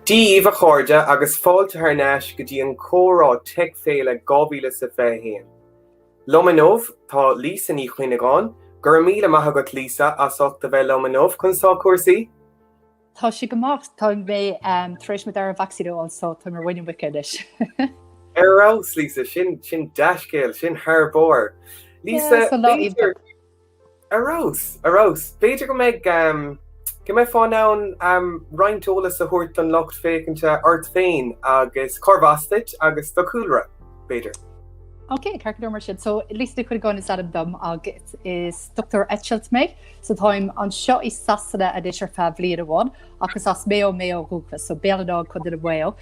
Díbh, a chairde, agus fáilte thar n-ais go dtí an comhrá Tech Féile 2021. Liom inniu tá Lisa Ní Chuinneagáin, go raibh míle maith agat, Lisa, as ucht a bheith liom inniu chun sá cúrsaí! Tá sé go maith. Tá mé tar éis mo dhara vacsaín a fháil so tá mé ar mhuin na muice anois. Ar fheabhas, Lisa, sin sin dea-scéal, sin thar barr. Lisa, b'fhéidir ar fheabhas, ar fheabhas. B'fhéidir go mbeidh um, go mbeifeá in ann um, roinnt eolas a thabhairt don lucht féachana ort féin agus cárb as duit agus do cúlra, b'fhéidir. Ok, ceart go leor mar sin. So, Lisa Ní Chuinneagáin is ainm dom agus is dochtúir eitilte mé. So táim anseo i Sasana anois ar feadh bliain amháin ach is as Maigh Eo mé ó dhúchas, so Béal an Átha, Contae Mhaigh Eo.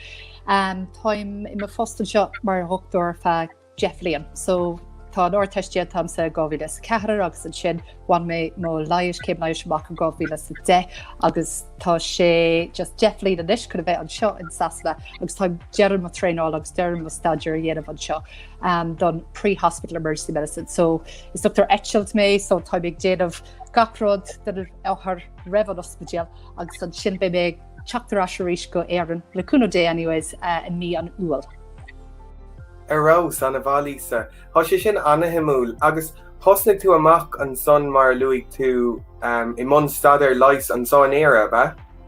Táim i mo phost anseo mar dhochtúir ar feadh deich bhliain, so tá an Ardteist déanta agamsa in 2004 agus ansin bhain mé mo leighis, céim leighis amach in 2010 agus tá sé just deich bhliain anois chun a bheith anseo in Sasana agus táim deireadh mo traenáil agus deireadh mo staidéar a dhéanamh anseo. don pre-hospital emergency medicine so is dochtúir eitilte mé so táim ag déanamh gach rud don othar roimh an ospidéal agus ansin beidh mé ag teacht ar ais arís go Éirinn le cúnamh Dé anyways uh, in mí an Iúil. Ar fheabhas, ana-mhaith Lisa. Tá sé sin ana-shuimiúil agus thosnaigh tú amach ansan mar a luaigh tú um, i mbun staidéir leighis anso in Éire, ab ea?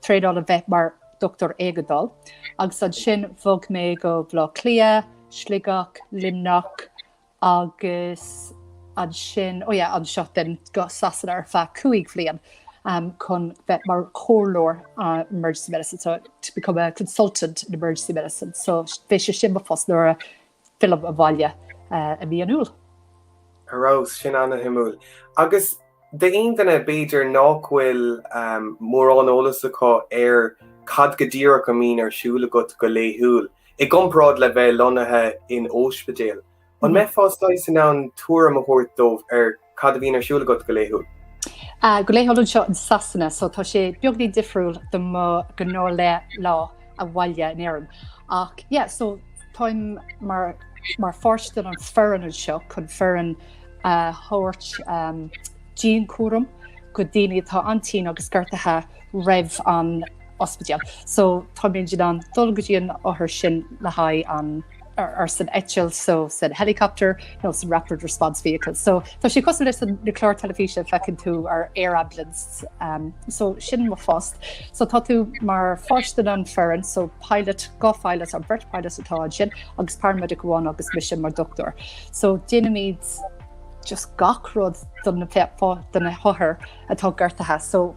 traenáil a bheith mar dochtúir éigeandála agus ansin bhog mé go Bhleá Cliath, Sligeach, Luimneach agus ansin, oh yeah, anseo then go Sasana ar feadh cúig bhliain chun bheith mar chomhairleoir emergency medicine, so to become a consultant in emergency medicine. So beidh sé sin mo phost nuair a fhillim abhaile i mí an Iúil. Ar fheabhas, sin an-shuimiúil. Agus d'aon duine, b'fhéidir, nách bhfuil mórán eolas acu ar cad go díreach a mbíonn ar siúl agat go laethúil, i gcomparáid le bheith lonnaithe in ospidéal, an mbeifeá saghas in ann tuairim a thabhairt dóibh ar. Cad a bhíonn ar siúl agat go laethúil? Go laethúil anseo in Sasana, so tá sé beagnach difriúil do mo ghnáthlá abhaile in Éirinn. Ach yeah, so táim mar mar pháirt den an foireann anseo chun foireann a thabhairt um, dianchúram go daoine atá an-tinn agus gortaithe roimh an ospidéal. So tá mé in ann dul go dtí an othar sin le haghaidh an, ar san eitilt, so san helicopter nó san rapid response vehicle. So tá sé cosúil leis na cláir teilifíse a feiceann tú ar air ambulance. So sin mo phost. So tá tú mar páirt den an foireann, so pilot, dhá pilot, an bheirt pilot atá ansin agus paramedic amháin agus mise mar dochtúir. So déanaimid just gach rud do na, do na hothair atá gortaithe. So.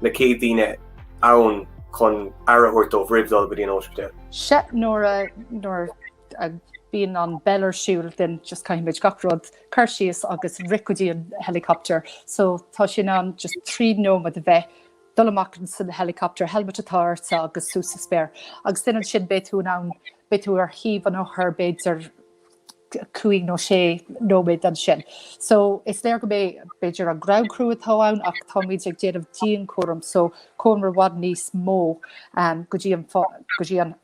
na céad daoine ann chun aire a thabhairt dóibh roimh dhul go dtí an ospidéal. Sea, nuair a bhíonn an bell ar siúl then just caithimid gach rud cur síos agus rith go dtí an helicopter. So tá sin ansin just trí nóiméad a bheith, dul amach san helicopter, helmet atá ortsa agus suas sa spéir. Agus then ansin beidh tú in ann, beidh tú ar thaobh an othair b'fhéidir, cúig nó sé nóiméad ansin. So is léir go mbeidh b'fhéidir an ground crew atá ann ach táimid ag déanamh dianchúram so cúram i bhfad níos mó go dtí an go dtí an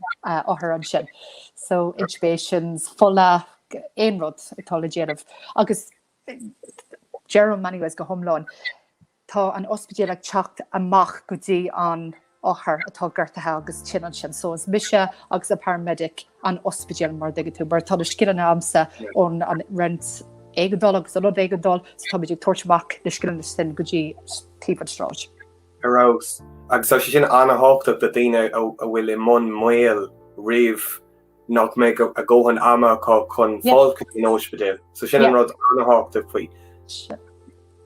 othar ansin. So intubations, fola, aon rud atá le déanamh agus deirim anyways go hiomlán. Tá an ospidéal ag teacht amach go dtí an othar atá gortaithe agus tinn ansin. So is mise agus an paramedic an ospidéal má thuigeann tú, mar tá na scileanna agamsa ón an roinnt éigeandála agus an rud éigeandála so táimid ag tabhairt amach na scileanna sin go dtí taobh an tsráid. Arís. Agus tá sé sin an-thábhachtach do daoine a bhfuil i mbun moill roimh nach mbeidh a ndóthain ama acu chun fáil chuig an ospidéal. So sin an rud an-thábhachtach faoi.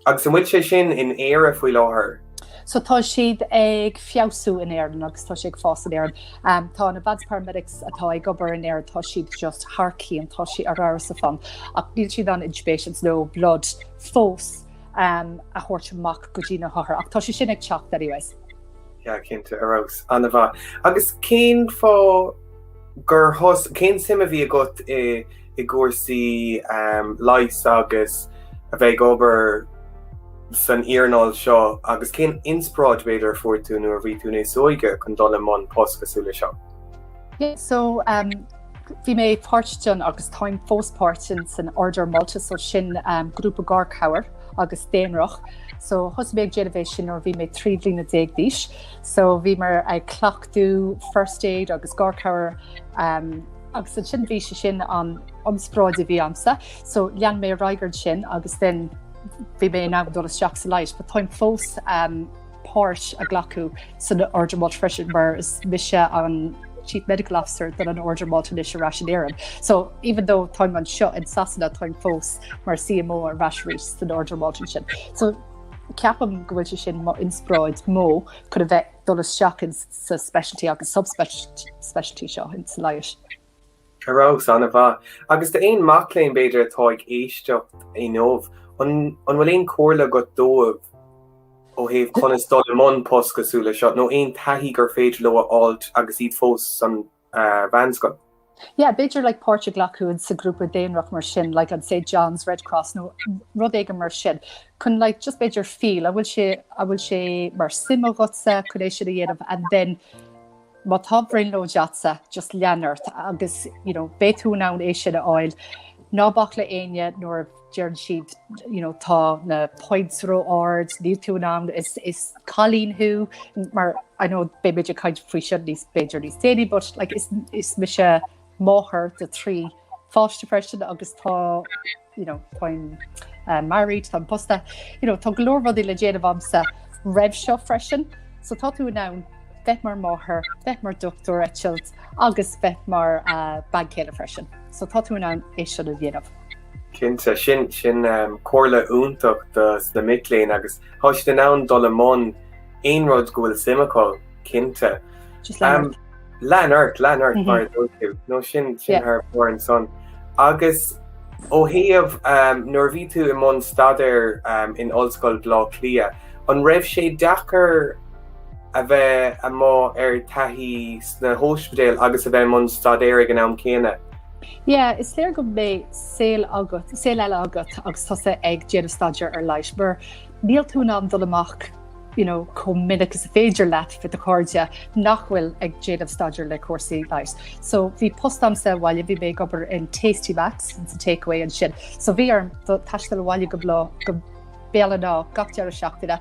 Agus an bhfuil sé sin in Éire faoi láthair? So tá siad ag feabhsú in Éirinn agus tá sé ag fás in Éirinn. Um, tá na advanced paramedics atá ag obair in Éirinn tá siad just thar cionn tá siad ar ais sa van ach níl siad an intubations nó blood fós um, a thabhairt amach go dtí na hothair ach tá sé sin ag teacht anyways. Yeah, cinnte arís an-mhaith. Agus cén fáth gur thos, cén suim a bhí agat i gcúrsaí leighis agus a bheith ag obair san earnáil seo agus cén inspioráid, b'fhéidir, a fuair tú nuair a bhí tú in aos óige chun dul i mbun post cosúil le seo? Yeah, so um, bhí mé páirt den agus táim fós páirt den san Order of Malta, so sin um, grúpa garchabhair agus deonach. So thosaigh mé ag déanamh é sin nuair a bhí mé trí bhliana déag d'aois. So bhíomar ag cleachtadh first aid agus garchabhair agus ansin bhí sé sin an inspioráid a bhí agamsa. So lean mé ar aghaidh ansin agus then bhí mé in ann dul isteach sa leigheas, but táim fós um, páirt a ghlacadh san Order of Malta freisin mar is mise an Chief Medical Officer don Order of Malta anois ar ais in Éirinn. So even though táim anseo in Sasana táim fós mar CMO ar ais san Order of Malta ansin. So Ceapaim go bhfuil sé sin an inspioráid is mó chun a bheith ag dul isteach insa specialty agus subspecialty seo insa leigheas. Ar fheabhas, ana-mhaith. Agus d'aon mhac léinn b'fhéidir atá ag éisteacht inniu, an bhfuil aon comhairle agat dóibh ó thaobh conas dul i mbun post cosúil leis seo nó aon taithí gur féidir leo a fháilt agus iad fós san mheánscoil. Yeah, b'fhéidir like páirt a ghlacadh insa grúpa deonach mar sin, like an St John's Red Cross nó rud éigin mar sin, chun like just b'fhéidir feel, an bhfuil sé, an bhfuil sé mar suim agatsa chun é sin a dhéanamh and then má tá an brionglóid agatsa just lean ort agus, you know, beidh tú in ann é sin a fháil. Ná bac le éinne nuair a. Deireann siad you know tá na points ró ard, níl tú in ann is is cailín thú mar I know beidh muid ag caint faoi sin níos b'fhéidir níos déanaí but like is is mise máthair de trí pháiste freisin agus tá you know táim uh, married táim pósta you know tá go leor rudaí le déanamh agamsa roimhe seo freisin so tá tú in ann bheith mar máthair, bheith mar dochtúir eitilte agus bheith mar uh, bean chéile freisin. So tá tú in ann é sin a dhéanamh. Cinnte, sin sin comhairle iontach do na mic léinn agus tá siad in ann dul i mbun aon rud go bhfuil suim acu ann, cinnte. Just lean ort. Um, lean ort, lean ort mar a dúirt tú. No, sin sin, yeah, thar barr ansan. Agus ó thaobh um, nuair a bhí tú i mbun staidéir um, in Ollscoil Bhleá Cliath, an raibh sé deacair a bheith amuigh ar taithí sna hospidéil agus a bheith i mbun staidéir ag an am céanna. Yeah, is léir go mbeidh saol agat, saol eile agat agus tusa ag déanamh staidéar ar leighis, mar níl tú in ann dul amach you know, chomh minic is is féidir le do chairde nach bhfuil ag déanamh staidéar le cúrsaí leighis. So bhí post agam sa bhaile bhí mé ag obair in Tasty Macs insa takeaway ansin. So bhí orm taisteal abhaile go Bl, go Béal an Átha gach deireadh seachtaine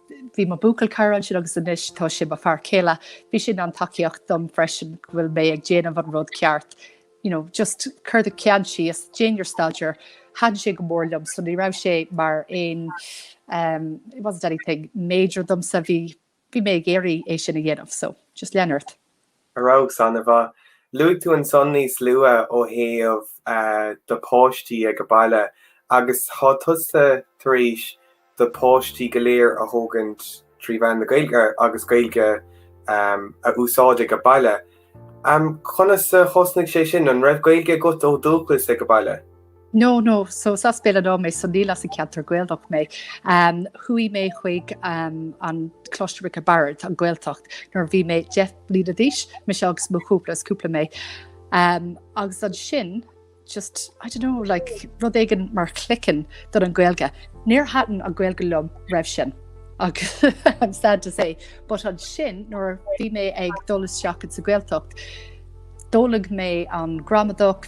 Bhí mo buachaill cara ansin agus anois tá sé mo fear céile. Bhí sé in ann tacaíocht a thabhairt dom freisin go bhfuil mé ag déanamh an rud ceart. You know, just cur do ceann síos, déan your staidéar. Thaitin sé go mór liom so ní raibh sé mar aon um, it wasn't anything major domsa, bhí, bhí mé ag iarraidh é sin a dhéanamh so just lean ort. Ar fheabhas, ana-mhaith. Luaigh tú ansan níos luaithe ó thaobh do páistí age baile agus thá tusa tar éis do páistí go léir a thógaint trí mheán na Gaeilge agus Gaeilge a úsáid age baile. Conas a thosnaigh sé sin? An raibh Gaeilge agat ó dhúchas age baile? No, no, so is as Béal an Átha mé, so níl as an ceantar Gaeltacht mé. Chuaigh mé chuig an Coláiste Riocard Bairéad, an Gaeltacht, nuair a bhí mé deich mbliana d'aois, mise agus mo chúpla, is cúpla mé. Agus ansin, just, I don't know, like, rud éigin mar clickeann don an Gaeilge. Níor thaitin an Gaeilge liom roimhe sin. Agus, I'm sad to say, but ansin, nuair a bhí mé ag dul isteach ins an Gaeltacht, d'fhoghlaim mé an gramadach,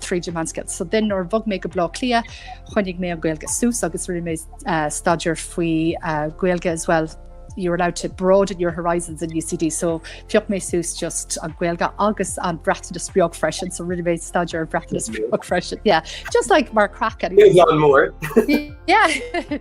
tríd an mheánscoil. So then nuair a bhog mé go Bleá Cliath choinnigh mé an Gaeilge suas agus rinne mé uh, staidéar faoi uh, Gaeilge as well you're allowed to broaden your horizons in UCD so phioc mé suas just an Gaeilge agus an Breatanas beag freisin so rinne mé staidéar Breatanas beag freisin yeah just like mar craic mór yeah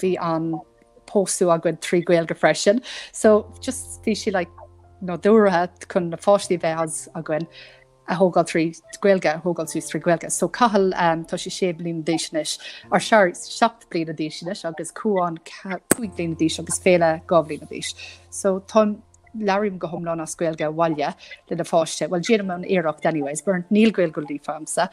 bhí an pósadh againn trí Gaeilge freisin so just bhí sé like nádúrtha chun na páistí a bheith as againn a thógáil trí Gaeilge, a thógáil suas trí Gaeilge. So Cathal um tá sé sé bliana d'aois anois or sorry seacht bliana d'aois anois agus Cuán ce- cúig bliana d'aois agus Féile dhá bhliana d'aois. So tá labhraím go hiomlán as Gaeilge abhaile le na pháistí, bhuel déanaim an iarracht anyways, Bernard níl Gaeilge líofa agamsa,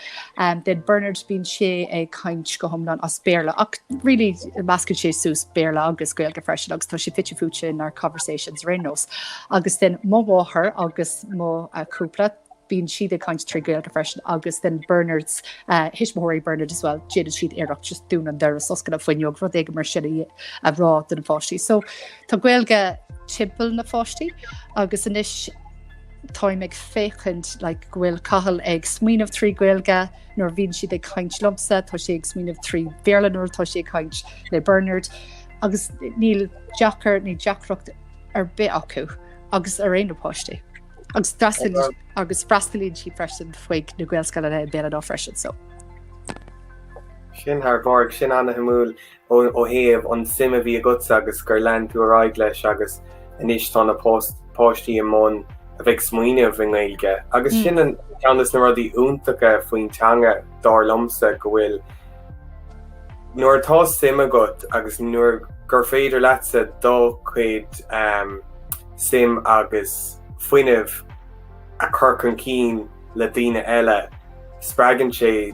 then Bernard bíonn sé ag caint go hiomlán as Béarla ach really meascann sé suas Béarla agus Gaeilge freisin agus tá sé fite fuaite inár conversations ar aon nós agus then mo mháthair agus mo cúpla bíonn siad ag caint trí Gaeilge freisin agus then Bernard's uh, thuismitheoirí Bernard as well déanann siad iarracht just dún an doras oscail an fuinneog rud éigin mar sin a rá don pháistí so Tá Gaeilge timpeall na pháistí agus anois táim ag féachaint like go bhfuil Cathal ag smaoineamh trí Ghaeilge nuair a bhíonn siad ag caint liomsa, tá sé ag smaoineamh trí Bhéarla nuair atá sé ag caint le Bernard agus níl deacair nó deacracht ar bith acu agus ar aon na páistí. agus freastal agus freastalíonn siad freisin chuig na Gaelscoileanna i mBéal an Átha freisin so. Sin thar barr agus sin ana-shuimiúil. ó thaobh an tsuim a bhí agatsa agus gur lean tú ar aghaidh leis agus anois tá na páistí i mbun a bheith ag smaoineamh i nGaeilge agus sin an ceann de na rudaí iontacha faoin teanga dar liomsa go bhfuil nuair atá suim agat agus nuair gur féidir leatsa do chuid suim agus fuinnimh a chur chun cinn le daoine eile, spreagann sé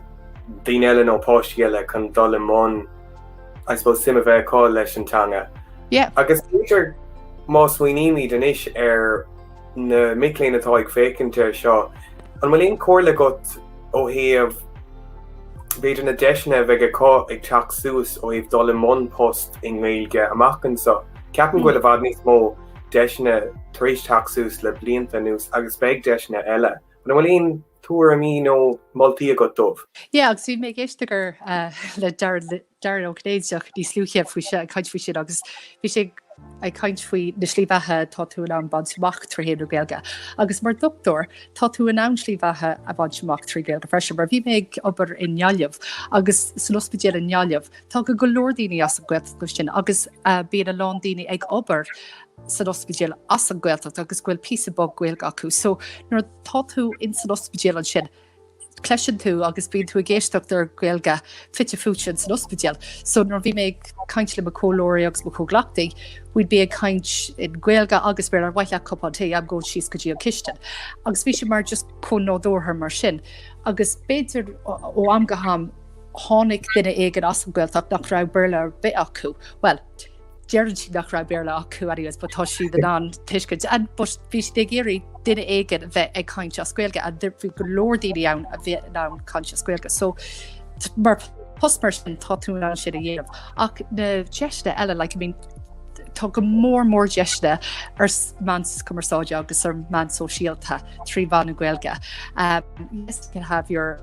daoine eile nó páistí eile chun dul i mbun I suppose suim a bheith acu leis an teanga. Yeah. Agus b'fhéidir má smaoinímid anois ar na mic léinn atá ag féachaint ar seo, an bhfuil aon chomhairle agat ó thaobh b'fhéidir na deiseanna a bheidh acu ag teacht suas ó thaobh dul i mbun post i nGaeilge amach anso? Ceapaim go bhfuil i bhfad níos mó deiseanna tar éis teacht suas le blianta anuas agus beidh deiseanna eile. An bhfuil aon tuairimí nó moltaí agat domh? Yeah, agus bhí mé ag éisteacht le Darren Ó Cnéideach níos luaithe faoi seo, ag caint faoi sin agus bhí sé ag caint faoi na slí bheatha tá tú in ann baint amach trí mheán na Gaeilge. Agus mar dochtúir, tá tú in ann slí bheatha a bhaint amach trí Ghaeilge freisin, mar bhí mé ag obair i nGaillimh agus san ospidéal i nGaillimh, Tagann go leor daoine as an Gaeltacht sin agus bíonn a lán daoine ag obair san ospidéal as an Gaeltacht agus go bhfuil píosa bog Gaeilge acu. So nuair atá tú ins an ospidéal ansin, cloiseann tú agus bíonn tú ag éisteacht ar Gaeilge fite fuaite ins an ospidéal. So nuair bhí mé ag caint le mo comhleoirí agus mo chomhghleachtaí, we'd be ag caint in Gaeilge agus be ar mhaith leat cupán tae, I'm going síos go dtí an chistin. Agus bhí sé mar just comh nádúrtha mar sin. Agus b'fhéidir ó am go ham, tháinig duine éigin as an Gaeltacht nach raibh Béarla ar bith acu, bhuel, deireann sí nach raibh Béarla acu anyways but tá siad in ann tuiscint and but bhí siad ag iarraidh duine éigin a bheith ag caint as Gaeilge and there bhí go leor daoine ann a bhí in ann caint as Gaeilge so mar post mar sin tá tú in ann sin a dhéanamh ach na deiseanna eile like I mean tá go mór mór deiseanna ar meáin cumarsáide agus ar meáin sóisialta trí mheán na Gaeilge. Um, yes, you can have your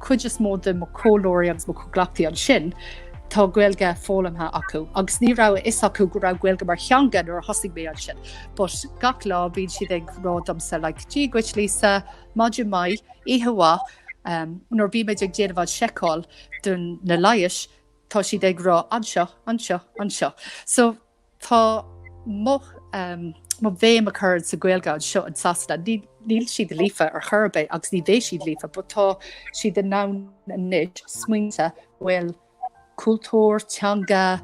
cuid is mó de mo chomhleoirí agus mo chomhghleachtaí ansin, tá Gaeilge foghlamtha acu agus ní raibh a fhios acu go raibh Gaeilge mar theanga nuair a thosaigh mé ansin. But gach lá bíonn siad ag rá domsa like Dia dhuit Lisa, maidin maith, oíche mhaith, um, nuair bímid ag déanamh an seiceáil do na leighis tá siad ag rá anseo, anseo, anseo. So Tá mo mo bhéim a chur sa Ghaeilge anseo in Sasana. Ní níl siad líofa ar chor ar bith agus ní bheidh siad líofa, but tá siad in ann anois smaointe go bhfuil cultúr, teanga,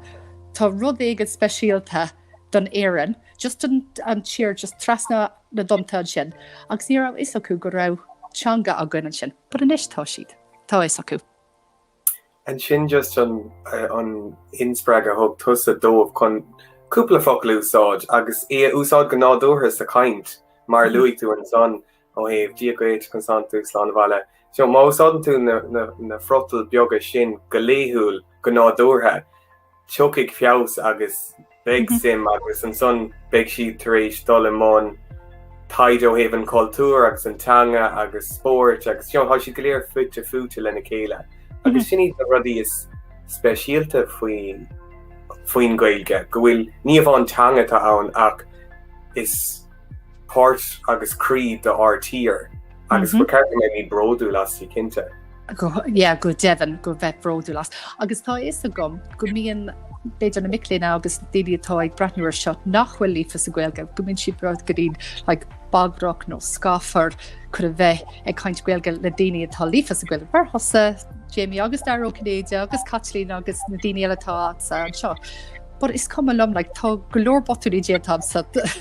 tá rud éigin speisialta don Éirinn, just an an tír just trasna na dtonn ansin agus ní raibh fhios acu go raibh teanga againn ansin, but anois tá siad, tá fhios acu. Ansin just an inspioráid a thug tusa dóibh chun cúpla focal a úsáid agus í a úsáid go nádúrtha sa chaint mar a luaigh tú ansan ó thaobh Dia dhuit, conas atá tú, slán abhaile. So má úsáideann tú na frotail beaga sin go laethúil, go nádúrtha, Tiocfaidh feabhas agus beidh suim agus ansan beidh siad tar éis dul i mbun taighde ó thaobh an chultúir agus an teanga agus spóirt agus you know tá siad go léir fite fuaite lena chéile agus sin iad na rudaí is speisialta faoi faoin Gaeilge go bhfuil ní amháin teanga atá ann ach is páirt agus croí do ár tír agus ba cheart go mbeidh muid bródúil as sí cinnte. Go yeah go deimhin go bheith bródúil as agus tá a fhios agam go mbíonn b'fhéidir na mic léinn agus daoine atá ag breathnú ar seo nach bhfuil líofa sa Gaeilge go mbíonn siad beirt go dtí'n like bagrach nó scáfar chun a bheith ag caint Gaeilge le daoine atá líofa sa Gaeilge mar thusa Jamie agus Dara Ó Cinnéide agus Caitlín agus na daoine eile atá anseo. But is cuma liom like tá go leor botúin ag déanamh ansa.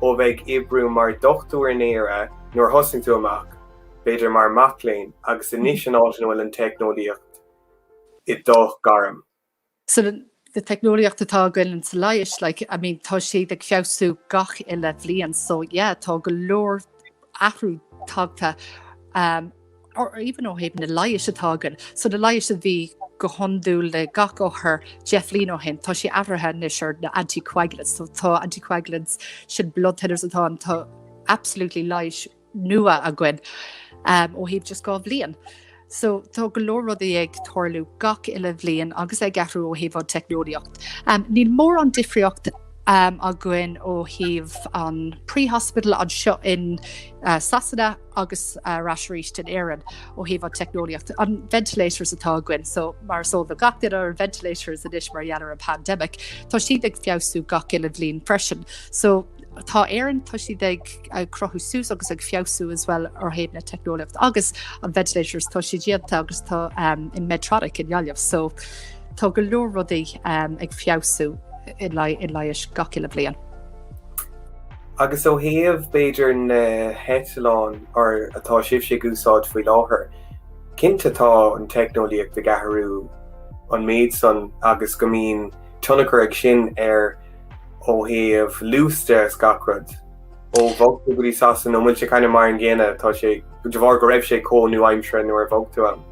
Ó bheith ag oibriú mar dhochtúir in Éire nuair a thosnaigh tú amach, b'fhéidir mar mhac léinn, agus anois an áit ina bhfuil an teicneolaíocht i do ghairm. So na teicneolaíocht atá againn sa leighis, like, I mean, tá siad ag feabhsú gach uile bhliain, so yeah, tá go leor athrú tagtha. Um, or even ó thaobh na leighis atá againn. So na leighis a bhí go hiondúil le gach othar deich bhliain ó shin, tá sé athraithe anois ar na anticoagulants. So tá anticoagulants, sin blood thinners atá ann, tá absolutely leighis nua againn ó thaobh just dhá bhliain. So tá go leor rudaí ag tarlú gach uile bhliain agus ag athrú ó thaobh an teicneolaíocht. Níl mórán difríocht againn ó thaobh an pre-hospital anseo in Sasana, agus ar ais arís in Éirinn ó thaobh an teicneolaíochta, an ventilators atá againn, so mar is eol do gach duine ar ventilators anois mar gheall ar an pandemic, tá siad ag feabhsú gach uile bhliain freisin. So tá Éirinn tá siad ag ag cruthú suas agus ag feabhsú as well ar thaobh na teicneolaíocht agus an ventilators tá siad déanta agus tá um, in Medtronic in Gaillimh, so tá go leor rudaí um, ag feabhsú in lei in leighis gach uile bhliain. Agus ó thaobh, b'fhéidir, na heitleáin or atá sibhse ag úsáid faoi láthair, cinnte tá an teicneolaíocht ag athrú an méid san agus go mbíonn tionchar ag sin ar ó thaobh luas de is gach rud. ó bhog tú go dtí Sasana, an bhfuil sé kind of mar an gcéanna, tá sé de bharr go raibh sé chomh nua-aimseartha nuair a bhog tú ann?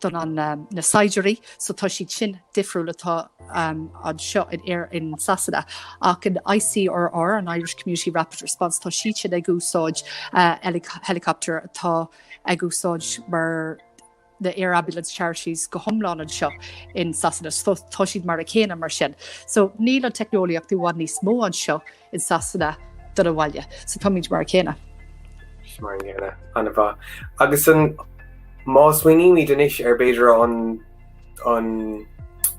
do na na saighdiúirí so tá siad sin difriúil atá anseo in Sasana ach in ICRR, an Irish Community Rapid Response, tá siad sin ag úsáid helicopter atá ag úsáid mar the Air Ambulance Charities go hiomlán anseo in Sasana so tá siad mar a céanna mar sin. So níl an teicneolaíocht i bhfad níos mó anseo in Sasana ná sa bhaile. So táimid mar a céanna. Sin mar an gcéanna. An-mhaith. Agus an, má smaoinímid anois ar b'fhéidir an, an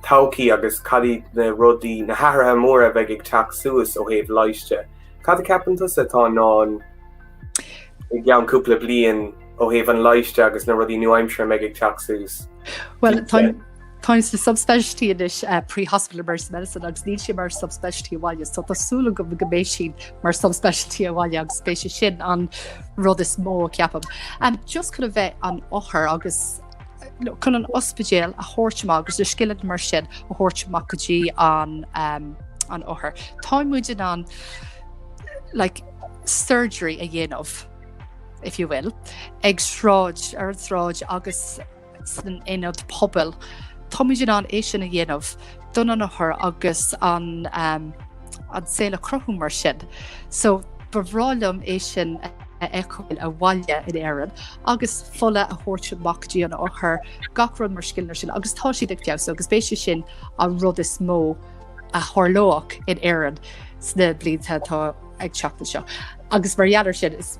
todhchaí agus cad iad na rudaí, na hathruithe móra a bheidh ag teacht suas ó thaobh leighis de, cad a ceapann tusa atá ná an, i gceann cúpla bliain, ó thaobh an leighis de agus na rudaí nua-aimseartha a mbeidh ag teacht suas? Bhuel, tá. Tá an subspecialty insa pre-hospital emergency medicine, agus níl sé mar subspecialty abhaile, so tá súil agam go mbeidh sé sin mar subspecialty abhaile agus beidh sé sin an rud is mó a ceapaim. Um, just chun a bheith an othair agus no, chun an ospidéal a thabhairt amach agus na scileanna mar sin a thabhairt amach go dtí an um, an othair. Táimid in ann like, surgery a dhéanamh, if you will, ag sráid ar an sráid agus san ionad pobail. Táimid in ann é sin a dhéanamh don an othar agus an saol a cruthú mar sin. So ba bhreá liom é sin a fheiceáil abhaile in Éirinn agus fola a thabhairt amach go dtí an othar gach rud mar scileanna mar sin agus tá siad ag feabhsú agus beidh sé sin an rud is mó a tharlódh in Éirinn sna blianta atá ag teacht anseo. Agus mar gheall air sin is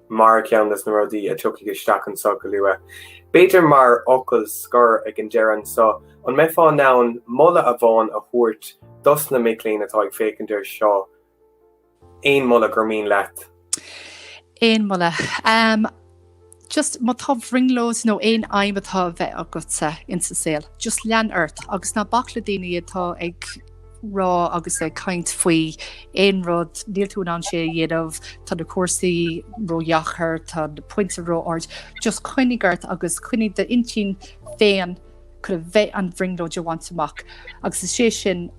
mar cheann des na rudaí a tiocfaidh isteach anso go luath. B'fhéidir mar fhocal scoir ag an deireadh anso, an mbeifeá in ann moladh amháin a thabhairt dos na mic léinn atá ag féachaint air seo? Aon moladh gur mian leat? Aon moladh. Ehm, just má tá bhrionglóid nó aon aidhm atá a bheith agatsa insa saol, just lean ort agus ná bac le daoine atá ag. rá agus ag caint faoi aon rud, níl tú in ann sé a dhéanamh, tá na cúrsaí ródheacair, tá na pointe ró-ard, just coinnigh ort agus coinnigh d'intinn féin chun a bheith an bhrionglóid a bhaint amach agus is é sin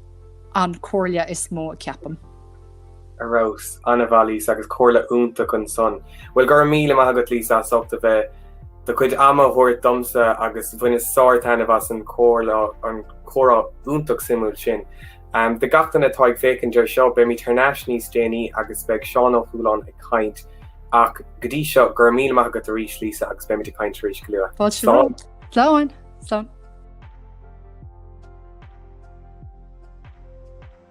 an comhairle is mó a ceapaim. ar fheabhas, ana-mhaith Lisa agus comhairle iontach ansan. Bhuel, go raibh míle maith agat, Lisa, as ucht a bheith do chuid ama a thabhairt domsa agus bhaineas sár-taitneamh as an comhrá iontach suimiúil sin. Do gach duine atá ag féachaint ar seo, beimid thar n-ais níos déanaí agus beidh Seán Ó Cualáin ag caint ach go dtí seo, go raibh míle maith agat arís, Lisa, agus beimid ag caint arís go luath. Fáilte romhat. Slán. Slán.